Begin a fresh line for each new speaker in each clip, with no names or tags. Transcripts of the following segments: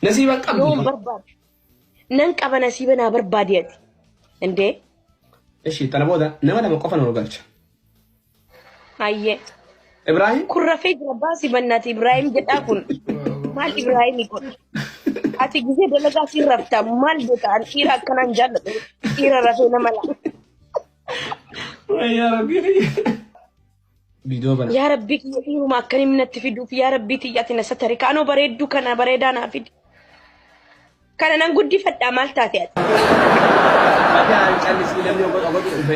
Nasiiba hin qabdu. Yoon barbaade.
Nan qaba nasiiba naa barbaadi ati. Indee. Ishii
tana booda nama lama qofa nu galcha.
Ayyee.
Ibrahim. Kun rafee jira
baasi bannaati Ibrahim jedhaa kun. Maal Ibrahim kun? Ati gizee dalagaa siin rafta maal beeka an dhiira akkanaan jaalladhu dhiira rafee nama laa.
Wayyaa rabbii. Vidoo bala. Yaa rabbii kiyya dhiiruma
akkan himni natti fiduuf yaa rabbii tiyya ati na satari kaanoo bareedduu kana bareedaa naa fidi. Kana nan guddifadhaa maal taate ati? Mataan callisii namni ogotu ogotu dhufe.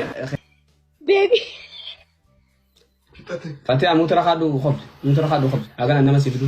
Beebii.
Fatee amuu tara kaadhu kobde. Amuu tara kaadhu kobde. Hagana nama si fidu.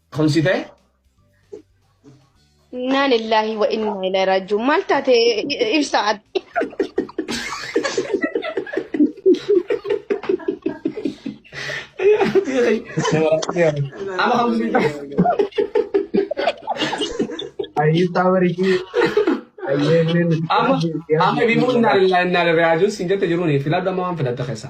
Tumsite?
Innaa lillaahi wa innaa ilaahi raaji'uun maal taate ibsaa ati?
Ayi
tawari ki. Ayi ne. Amma
amma bimu inna lillahi inna ilaihi rajiun sin jette jiruni filadhu amma waan filatta keessa.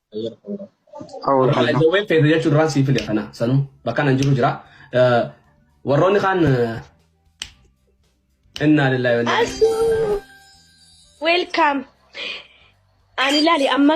Haala jawween feete jechuun duraan sii fide kana sanuu bakka nan jiru jira. Eh, Warroonni kaan eh, innaa lillahi wa innaa ilaihi Asu
welcome.
Ani lali
amma